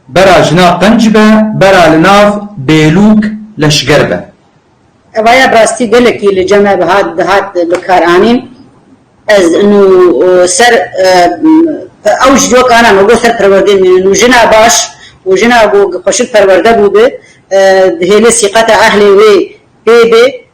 Bera jina qenc be, bera li nav bêlûk leşger be. Eva ya bi rastî gelekî li cem e bihat dihat bikaranîn. Ez nû ser ew ji cok ana me got ser perwerdeyê mînin nû jina baş û jina ku xweşik perwerde bûbe dihêle sîqeta ehlê wê pê bê.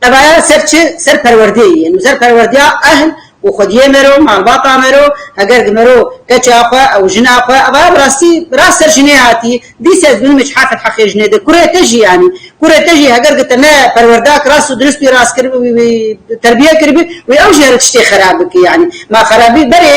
Tevayan ser çi? Ser perwerdeyê yên û ser perwerdeya ehl û xwediyê me ro, malbata me ro, heger di me ro keça xwe ew jina xwe ev a bi rastî bi rast ser jinê hatî dîs ez dibînim hiç harfek heqê jinê de kurê te jî yanî kurê te jî heger di te ne perwerdak rast û dirist wî rast kiribî wî terbiye kiribî wî ew jî her tiştê xerab bikî yanî ma xerabî berê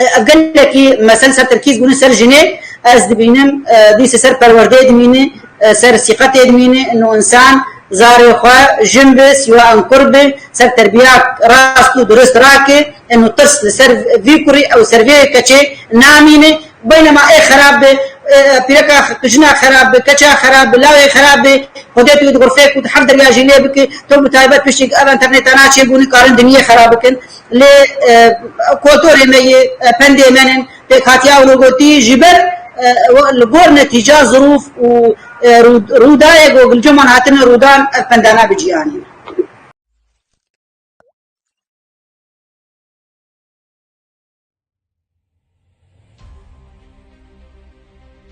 Ev gelekî mesel ser terkîz bûne ser jinê, ez dibînim dîs ser perwerdeyê dimîne, ser sîqetê dimîne, no însan zarê xwe jin bi siwa an kur bi, ser terbiya rast û durist rake, no tirs li ser vî kurî ew ser vê keçê namîne, beynema ê xerab bi, pîreka jina xerab bi, keça xerab bi, lawê xerab bi, xwedê tu di xurfeyê ku di hev derya jî lê bike, to bi taybet piştî ev internêta naçê bû nikarin dimiyê xerab bikin. Lê kotorê me yê, pendê me in, pêkhatiya ew li gotî ji ber li gor netîca zirûf û rûdayê ku gilceman hatine rûdan ev penda nabe cîhanê.